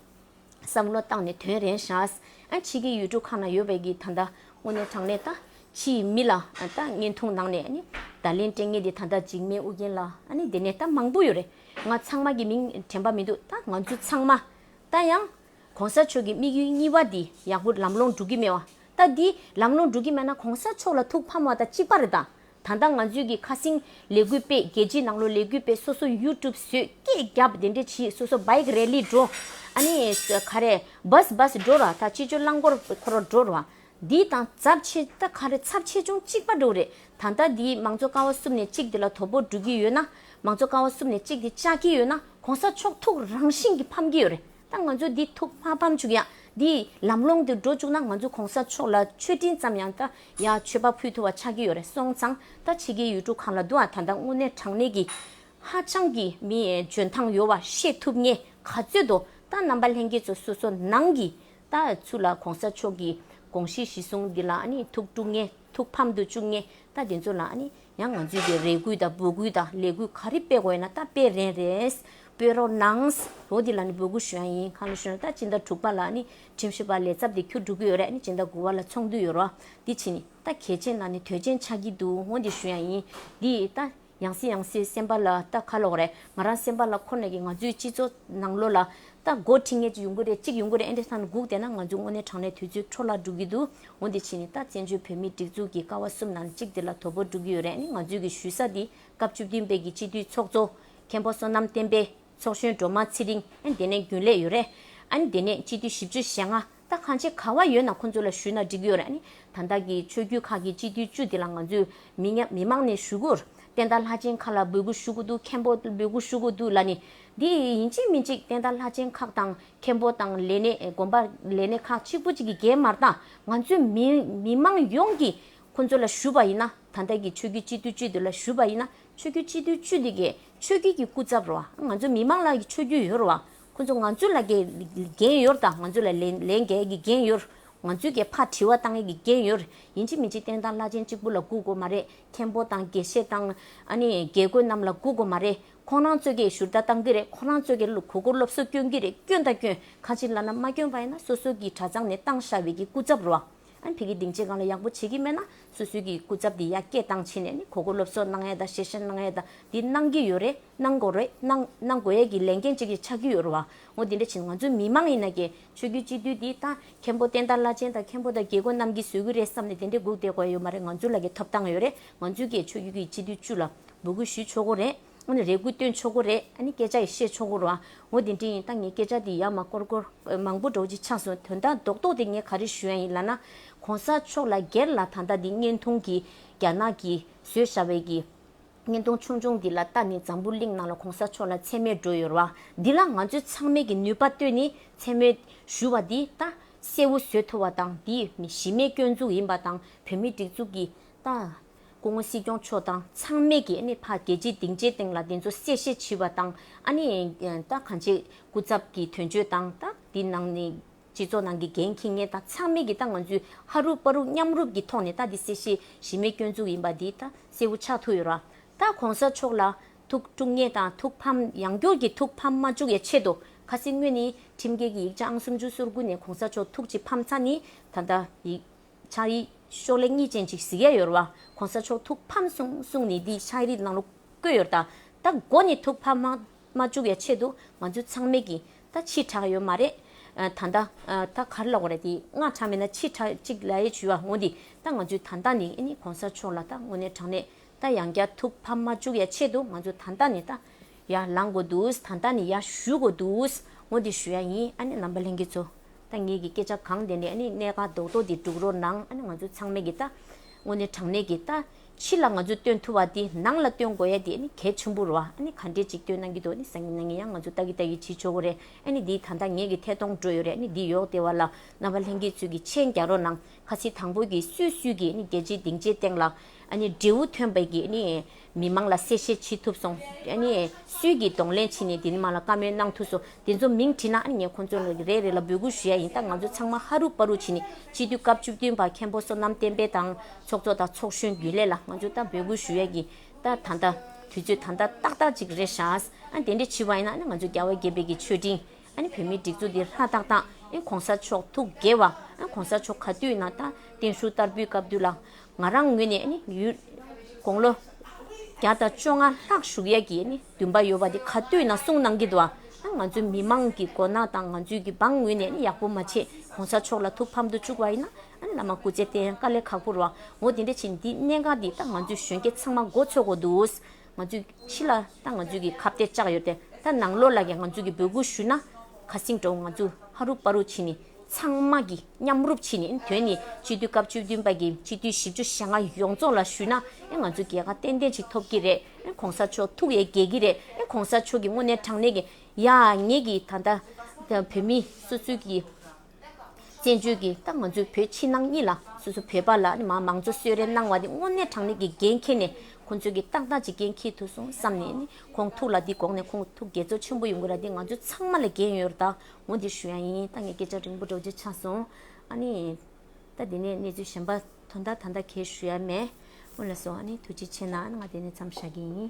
བསམ་བློ་བཏང་ནས་དོན་རན་བྱས། ཕྱི་གི་ཡུལ་གྲུ་ཁག་ན་ཡོད་པའི་གི་ད་ལྟ་དངོས་གནས་དྲང་གནས་ད་ཕྱིའི་མི་ལ་ད་བརྙན་ཐུང་ནང་ནས་ནི་ད་ལན་སྤྲེལ་ངན་དེ་ད་ད་འཇིགས་མེད་ཨུ་རྒྱན་ལ་ནི་དེ་ནས་ད་མང་པོ་ཡོད་རེད་ང་ཚང་མ་གི་མིང་དྲན་པ་མི་འདུག་ད་ང་ཚོ་ཚང་མ་ད་ཡང། གོང་ས་མཆོག་གི་དམིགས་ཡུལ་གཉིས་བ་འདི་ཡག་པོ་ལམ་ལོང་འགྲོ་གི་མེད་བ་ད་འདི་ལམ་ལོང་འགྲོ་གི་མེད་ན་གོང་ས་མཆོག་ལ་ཐུགས་ཕམ་བ་ད་གཅིག་པ་རེད་ད་ད་ལྟ་ང་ཚོས་ཀྱི་ཁ་སིང་ལས་འགུལ་སྤེལ་རྒྱལ་སྤྱིའི་ནང་ལོ་ལས་འགུལ་སྤེལ་སོ་སོ་ཡུ་ཀྲུབ་བཟོས་སྐད་རྒྱབ་དེ་འདྲས་བྱིས་སོ་སོ Bike Rally འགྲོ་ཨ་ནི་ཁ་རེ Bus Bus འགྲོ་ར་ད་ཅི་ཅོ་རླངས་འཁོར་འཁོར་བ་འགྲོ་ར་འདི་དང་ཚབས་ཆེ་ད་ཁ་རེ་ཚབས་ཆེ་ཅུང་གཅིག་པ་འགྲོ་རེད་ད་ལྟ་འདིའི་མང་གཙོ་ཀ་བ་བསུབ་ནས་གཅིག་དེ་ལ་དོ་པོ་འགྲོ་གི་ཡོད་ན་མང་གཙོ་ཀ་བ་བསུབ་ནས་གཅིག་དེ་བཅག་གི་ཡོད་ན་གོང་ས་མཆོག་ཐུགས་རང་བཞིན་གྱི་ཕམ་གྱི་ཡོད་རེད་ད་ང་ཚོ་འདི་ཐུགས་མ་ཕམ་བྱུག་ཡང་འདིའི་ལམ་ལོང་དེ་འགྲོ་བཅུག་ན་ང་ཚོ་གོང་ས་མཆོག་ལ་མཆོད་སྤྲིན་ཙམ་ཡང་ད་ཡང་མཆོད་པ་ཕུལ་ཐུབ་བ་ཆགས་ཀྱི་ཡོད་རེད་སོང་ཙང་ད་ཕྱི་གི་ཡུལ་གྲུ་གང་ལ་འདུག་ཨ་ད་ལྟ་དངོས་གནས་དྲང་གནས་ཀྱི་ཧ་ཅང་གི་མི་འཇོན་ཐང་ཡོད་བ་ཤེས་ཐུབ་ངེས་ག་ཚོད་དུ་ད་རྣམ་པ་ལྷན་རྒྱས་ཚོ་སོ་སོ་ནང་གི་ད་ཚུ་ལ་གོང་ས་མཆོག་གི་དགོངས་གཞི་གཞི་བཟུང་འདི་ལ་ནི་ཐུགས་དཀྲུག་ངེས་ཐུགས་ཕམ་དུ་བཅུག་ངེས་ད་དེ་ཚོ་ལ་ནི་ཡང་ང་ཚོས་ཀྱི་རེ་སྐུལ་དང་འབོད་སྐུལ་དང་ལས་འགུལ་ག་རེ་སྤེལ་དགོས་ཡིན་ན་ད་སྤེལ་རན་རེད་སྤེལ་རོགས་གནང། ལོ་འདི་ལ་ནི་འབོད་སྐུལ་ཞུ་ཡ་ཡིན་གང་ལ་ཞུ་ན་ད་སྤྱི་ཟླ་དྲུག་པ་ལ་ནི་ཁྲིམས་ཞིབ་པ་ལས་ཚབ་དེ་ཁྱོད་སྒྲུབ་ཀྱི་ཡོད་རེད་ནི་ཇི་འདྲ་དགོས་བ་ལ་ཚོང་དུས་ཡོད་རོ། འདི་ཕྱི་ནི། ད་གལ་ཆེན་ན་ནི་དོལ་ཆེན་ཆགས་ཀྱི་འདུག་ངོ་འདི་ཞུ་ཡང་ཡིན། འདི། ད། ཡང་སྲིད་ཡང་སྲིད་སེམས་པ་ལ་ད་ཁ་ལོག་རེད་ང་རང་སེམས་པ་ལ་ཁོ་ནས་ཀྱི་ང་ཚོའི་སྤྱི་ཚོགས་ནང་ལོ་ལ། ད་སྒོར་ཁྲི་ངས་ཅིག་ཡོང་གི་རེད་ཅིག་ཡོང་གི་རེད་ཨེ་འདྲ་ད་ནི་སྒུག་བསྡད་ན་ང་ཚོའི་དངོས་གནས་དྲང་གནས་དུས་ཚོད་འཕྲོ་བརླག་འགྲུབ་ཀྱི་འདུག་ངོ་འདི་ཕྱི་ནི་ད་བཙན་བྱོལ་བོད་མིའི་སྒྲིག་འཛུགས་ཀྱི་ཀ་བ་གསུམ་ནང་གཅིག་འདི་ལ་དོ་པོ་འགྲུབ་ཀྱི་ཡོད་རེད་ནི་ང་ཚོའི་ཀྱི་ཞུས་ས་འདི་སྐབས་བཅུ་བདུན་པའི་ཀྱི་སྤྱི་འཐུས་ཚོགས་གཙོ། མཁན་པོ་བསོད་ནམས་བསྟན་པའི། ཚོགས་གཞོན་སྒྲོལ་མ་ཚེ་རིང་ཨན་དེ་ནས་རྒྱུན་ལས་ཡོད་རེད། ཨན་དེ་ནས་སྤྱི་འཐུས་བཞི་བཅུ་ཞེ་ལྔ་ད་གང་བྱེད་ག་བ་ཡོད་ན་ཁོང་ཚོ་ལ་ཞུས་ན་འགྲིག་གི་ཡོད་རེད་ད་བདག་གི་ཆོས་རྒྱུད་ཁག་གི་སྤྱི་འཐུས་བཅུ་དེ་ལ་ང་ཚོས་མི་ཉག་མི་མང་ནས་ཞུ་གུ་བསྟན་དར་ལྷ་ཆེན་ཁག་ལ་འབོད་གུ་ཞུ་གུ་འདུག་མཁན་པོ་ལ་འབོད་གུ་ཞུ་གུ་འདུག་ལ་ནི་འདི་ཡིན་ཅིག་མིན་ཅིག་བསྟན་དར་ལྷ་ཆེན་ཁག་དང་མཁན་པོ་དང་ལས་སྣེ་དགོན་པ་ལས་སྣེ་ཁག་གཅིག་པུ་གཅིག་གི་རྒྱས་མར་དང་ང་ཚོས་མི་མི་མང་ཡོངས་ཀྱིས་ཁོང་ཚོ་ལ་ཞུས་པ་ཡིན་ན་ད་བདག་གི་ཆོས་རྒྱུད་སྤྱི་འཐུས་བཅུ་དེ་ལ་ཞུས་པ་ཡིན་ན་ཆོས་རྒྱུད་སྤྱི་འཐུས་བཅུ་དེ་གས་ཆོས་རྒྱུད་ཀྱི་སྐུ་ཚབ་རོ། ང་ཚོ་མི་མང་ལ་ཆོས་རྒྱུད་ཡོད་རོ། ཁོ་ཚོ་ང་ཚོ་ལ་འགན་ཡོད་དང་ང་ཚོ་ལ་ལས་འགལ་གྱི་འགན་ཡོད། ང་ཚོས་ཀྱི་ཕར་དྲི་བ་གཏང་ཡས་ཀྱི་འགན་ཡོད། ཡིན་གཅིག་མིན་གཅིག་བསྟན་དང་བླ་ཆེན་གཅིག་པུ་ལ་སྒུག་དགོས་མ་རེད། མཁན་པོ་དང་དགེ་བཤེས་དང། ཨ་ནི་དགེ་བསྐོས་རྣམས་ལ་སྒུག་དགོས་མ་རེད། ཁོང་རང་ཚོས་ཀྱི་ཞུར་རྟ་གཏང་གི་རེད་ཁོང་རང་ཚོས་ཀྱི་གོ་གོར་སློབ་གསོ་བསྐྱོན་གྱི་རེད་བསྐྱོན་དང་བསྐྱོན། ཁ་ཅིག་བླ་ན་མ་བསྐྱོན་པ་ཡིན་ན་སོ་སོ་ཀྱི་གྲྭ་ཚང་ནས་བཏང་ཤ་བའི་ཀྱི་སྐུ་ཚབ་རོ། ཨན་བྷི་གིས་སྡིངས་ཆའི་སྒང་ལ་ཡག་པོ་བྱེད་ཀྱི་མེད་ན་སུད་སུད་ཀྱི་སྐུ་ཚབ་དེ་ཡར་སྐྱེད་བཏང་ཕྱིན་ནས་ནི་གོ་གོ་སློབ་གསོ་གནང་ཡས་དང་ཞེ་ཞེ་གནང་ཡས་དང་དེ་གནང་གི་ཡོད་རེད་གནང་དགོས་རེད་གནང་གནང་དགོས་ཡས་ཀྱི་ལས་འགན་གཅིག་ཅིག་ཆགས་ཀྱི་ཡོད་རུང་བ་ངོ་དེ་འདྲ་བྱེད་ན་ང་ཚོའི་མི་མང་ཡིན་ན་ཀྱེ་ཆོས་རྒྱུད་སྤྱི་འཐུས་དེ་དང་མཁན་པོ་བསྟན་དར་བླ་ཆེན་དང་མཁན་པོ་དང་རྒྱལ་པོ་རྣམས་ཀྱིས་བཟོས་ཀྱི་རེད་བསམ་ནས་དེ་འདྲས་སྒུག་བསྡད་དགོས་ཡོད་མ་རེད་ང་ཚོ་ལ་ཀྱེ་ཐོབ་ཐང་ཡོད་རེད་ང་ཚོས་ཀྱེ་ཆོས་རྒྱུད་ཀྱི་སྤྱི་འཐུས་བཅུ་ལ་འབོད་སྐུལ་ཞུས་ཆོག་གོ་རེད། ཨོ་ནི་རེ་སྐུལ་བཏོན་ཆོག་གོ་རེ་ཨ་ནི་སྐད་ཆ་ཡི་བཤད་ཆོག་གོ་ར་ཨོ་དེ་འདྲི་ཡིན་ད་ངས་སྐད་ཆ་དེ་ཡག་མ་སྐོར་སྐོར་མང་པོ་འགྲོ་གཅིག་ཆགས་སོང་དོན་དག་རྡོག་རྡོག་དེ་ངས་ག་རེ་ཞུ་ཡ་ཡིན་ལ་ན་གོང་ས་མཆོག་ལ་སྒེར་ལ་ད་ལྟ་འདི་བརྙན་ཐུང་གི་རྒྱ་ནག་གི་བཟོས་ཤ་བའི་གི་བརྙན་ཐུང་ཆུང་ཆུང་འདི་ལ་ལྟ་ནི་འཛམ་བུ་གླིང་ནང་ལ་གོང་ས་མཆོག་ལ་མཚན་སྨད་འགྲོ་ཡོད་ར་འདི་ལ་ང་ཚོས་ཚང་མས་གི་ནུས་པ་བཏོན་ནི་མཚན་སྨད་ཞུ་བ་འདི་ད་གསལ་བོ་བཟོས་ཐུབ་བ་དང་འདི་མི་གཞི་མེད་སྐྱོན་འཛུགས་ཡིན་པ་དང་བོད་མི་སྒྲིག་འཛུགས་གི་ད། སྐུ་ངོ་སྲིད་སྐྱོང་མཆོག་དང་ཚང་མས་ཀྱི་ནི་ཕ་རྒྱལ་སྤྱི་སྡིངས་ཆའི་སྟེང་ལ་དེ་ཚོ་གསལ་བཤད་བྱི་བ་དང་ཨ་ནི་ད་གང་ཆེ་སྐུ་ཚབ་ཀྱི་དོན་གཅོད་དང་ད་དེ་ནང་ནི་སྤྱི་ཚོགས་ནང་གི་འགན་འཁྱི་ངན་དང་ཚང་མས་ཀྱི་ད་ང་ཚོའི་ཧ་རུབ་པ་རུབ་མཉམ་རུབ་ཀྱི་ཐོག་ནས་ད་དེ་གསལ་བཤད་བྱི་མེད་སྐྱོན་འཛུགས་ཡིན་པ་དེ་ད་གསལ་བོ་ཆགས་ཐུག་ཡོད་ར་ད་གོང་ས་མཆོག་ལ་ཐུགས་དཀྲུག་ངེས་དང་ཐུགས་ཕམ་ཡང་འགྱུར་གྱི་ཐུགས་ཕམ་མ་བཅུག་ཡ་ཆེད་དུ་ཁ་སེ་སྔོན་ནི་ཁྲིམས་འགལ་གྱི་ཡིག་ཆ་ཨང་སུམ་ཅུ་སོར་དགུ་ནས་གོང་ས་མཆོག་ཐུགས་ཀྱི་ཕམ་ཚ་ནི་ད་ད་ཡིག། ཕྱག་རིས་ཤོག་ལེ་གཉིས་ཅན་ཅིག་གཟིགས་ཡས་ཡོད་ར་བ ྋགོང་ས་མཆོག་ཐུགས་ཕམ་གསུངས་གསུངས་ནས་འདིའི་ཕྱག་རིས་གནང་ལུགས་བཀོད་ཡོད་ར་ད་མགོ་ནས་ཐུགས་ཕམ་མ་མ་བཅུག་ཡ་ཆེད་དུ་ང་ཚོའི་ཚང་མས་ཀྱི་ད་ཕྱིས་དྲག་ཡོད་མ་རེད་ད་ད་ད་གར་ལོག་ར་དེ་ང་དྲག་མེད་ན་ཕྱིས་དྲག་ཅིག་ལ་ཡས་བྱུས་ཡ་ངོ་འདི་ད་ང་ཚོའི་ད་ད་ནས་ནི ྋགོང་ས་མཆོག་ལ་ད་ངོ་ནས་དྲག་ནས་ད་ཡང་བསྐྱར་ཐུགས་ཕམ་མ་བཅུག་ཡ་ཆེད་དུ་ང་ཚོ་ད་ད་ནས་ད། ཡ་ལངས་དགོས་འདུག་ད་ལྟ་ནས་ཡ་ཞུ་དགོས་འདུག་ངོ་དེ་ཞུ་ཡ་ཡིན་ཨ་ནི་ལམ་པ་ལྷན་རྒྱས་ཚོ། ད་ངེད་ཀྱི་སྐད་ཆ་གང་བདེན་ནས་ཨ་ནི་གནད་འགག་རྡོག་རྡོག་འདི་སྒྲུག་རོགས་གནང་ཨ་ནི་ང་ཚོ་ཚང་མས་ཀྱིས་ད། དངོས་གནས་དྲང་གནས་ཀྱིས་ད། ཕྱི་ལ་ང་ཚོས་སྟོན་ཐུབ་བ་དེ་ནང་ལ་སྟོན་དགོས་ཡ་དེ་ཨ་ནི་གལ་ཆེན་པོ་རུ་ཨ་ཨ་ནི་ག་འདྲས་ཅིག་སྟོན་གནང་གི་འདུག་ཨ་ནི་བཟང་ངན་ན་ངན་ཡ་ང་ཚོ་ལྟ་གི་ལྟ་གི་བྱེད་ཆོག་གོ་རེད་ཨ་ནི་འདི་ད་ལྟ་ངེད་ཀྱི་ཐད་གཏོང་འགྲོ་ཡོད་རེད་ཨ་ནི་འདི་ཡོག་དེ་བ་ལ་རྣམ་པ་ལྷན་རྒྱས་ཚོས་ཀྱིས་མཆན་རྒྱག་རོགས་གནང་ཁ་ཚིག་དང་པོ་གིས་སུས་སུས་ཀྱིས་ཨ་ནི་རྒྱལ་སྤྱིའི་སྡིངས་ཆའི་སྟེང་ལ་ཨ་ནི་འབྲས་བུ་ཐོན་པའི་ཀྱི་ཨ་ནི། མི་མང་ལ་གསལ་བཤད་བྱེད་ཐུབ་སོང། སུས་ཀྱིས་གདོང་ལེན་བྱས་ནས་དེ་མང་ལ་བཀའ་མོལ་གནང་ཐུབ་སོང། དེ་ཚོ་མིང་བྲིས་ན་ངས་ཁོང་ཚོ་རེ་རེ་ལ་འབོད་སྐུལ་ཞུ་ཡ་ཡིན་སྟབས་ང་ཚོ་ཚང་མ་ཧ་རུ་པ་རུ་བྱས་ནས་སྤྱི་འཐུས་སྐབས་བཅུ་བདུན་པ་མཁན་པོ་བསོད་ནམས་བསྟན་འཕེལ་དང་ཚོགས་གཙོ་དང་ཚོགས་གཞོན་རྒྱུན་ལས་ལ་ང་ཚོས་ད་འབོད་སྐུལ་ཞུ་ཡ་ཡིན་སྟབས་ད་ལྟ་དུས་ཚོད་ད་ལྟ་ཏག་ཏག་ཅིག་རེད་ཤག། དེ་འདྲ་བྱས་པ་ཡིན་ན་ང་ཚོ་རྒྱ་བལ་རྒྱལ་བལ་གྱི་ཆོས་འབྲིང། ཨ་ནི་བོད་མིའི་སྒྲིག་འཛུགས་འདི་ལྷ་དག་དང་ཨེ་གོང་ས་མཆོག་ཐུགས་དགྱེས་བ་ཨེ་གོང་ས་མཆོག་ག་དུས་ན་ད་བརྟེན་བཞུགས་བསྟར་འབུལ་སྐབས་དུས་ལ་ང་རང་ངོས་ནས་ཨེ་ནི་ཡུལ་དགོང་ལོ་བརྒྱ་དང་བཅོ་ལྔ་ལྷག་བཞུགས་ཡས་ཀྱི་ཨེ་ནི་འདུན་པ་ཡོད་པ་དེ་ག་དུས་ན་གསུངས་གནང་གི་འདུག་ཨ་ང་ཚོའི་མི་མང་གི་མགོ་ན་དང་ང་ཚོའི་གི་འབངས་ངོས་ནས་ཨེ་ནི་ཡག་པོ་མ་བྱེད་གོང་ས་མཆོག་ལ་ཐུགས་ཕམ་དུ་བཅུག་བ་ཨེ་ན་ཨ་ནི་བླ་མ་སྐུ་ཚེ་བརྟན་དཀའ་ལས་ཁག་པོར་བ་ངོ་དེ་འདྲ་བྱེད་འདི་གནད་འགག་འདི་ད་ང་ཚོའི་གཞོན་སྐྱེས་ཚང་མ་མགོ་ཚོས་དགོས་འདུག། ང་ཚོས་ཕྱི་ལ་ད་ང་ཚོས་ཀྱི་ཁ་བརྡས་བཅག་ཡོད་དེ་ད་ནང་ལོགས་ལ་ཀྱང་ང་ཚོས་ཀྱི་འབོད་སྐུལ་ཞུས་ན་ག་སིང་འགྲོ་ང་ཚོས་ཧ་རུ་པ་རུ་བྱས་ནས་ཚང་མ་གྱི་མཉམ་རུབ་བྱས་ནས་དོན་ནི་སྤྱི་འཐུས་སྐབས་བཅུ་བདུན་པ་ཀྱི་སྤྱི་འཐུས་བཞི་བཅུ་ཞེ་ལྔ་ཡོངས་རྫོགས་ལ་ཞུས་ན་ང་ཚོས་རྒྱལ་ཁ་ཏན་ཏན་ཞིག་ཐོབ་ཀྱི་རེད་གོང་ས་མཆོག་ཐུགས་ཡས་རྒྱས་ཀྱི་རེད་གོང་ས་མཆོག་གི་དངོས་གནས་དྲང་གནས་ཀྱི་ཡག་ཉེས་ཀྱི་ད་ལྟ་བོད་མི་སོ་སོའི་ཀྱི། བཙན་བྱོལ་གྱི་ཏང་ང་ཚོས་བོད་ཕྱི་ནང་གཉིས་ལ་སོ་སོ་བོད་པ་ལ་ནི་མང་གཙོ་གསོལ་རས་གནང་བ་དེ་དངོས་གནས་དྲང་ལེགས་ཀྱི་འགན་འཁྱེར་ནས་ཁོང་ཚོས་ཀྱི་ཏག་ཏག་ཅིག་འགན་འཁྱེར་ཐུབ་སོང་བསམ་ནས་ནི་ཁོང་ཐུགས་ལ་འདི་དགོངས་ནས་ཁོང་ཐུགས་དགྱེས་ཚོར་ཆེན་པོ་ཡོང་གི་ར་འདི་ང་ཚོ་ཚང་མ་ལ་འགན་ཡོད་ར་ད་ངོ་འདི་ཞུ་ཡང་ཡིན་ད་ངས་སྐད་ཆ་རིང་པོ་སྒྲོག་རྗེས་ཆགས་སོང་ཨ་ནི། ད་འདི་ནས་གནས་ཚུལ་གཞན་པ་དོན་དག་ད་ལྟ་གས་ཞུ་ཡ་མེད་སྔོན་ལ་སོང་ཨ་ནི་ཐུགས་རྗེ་ཆེ་ན་ང་འདི་ནས་མཚམས་བཞག་གི་ཡིན།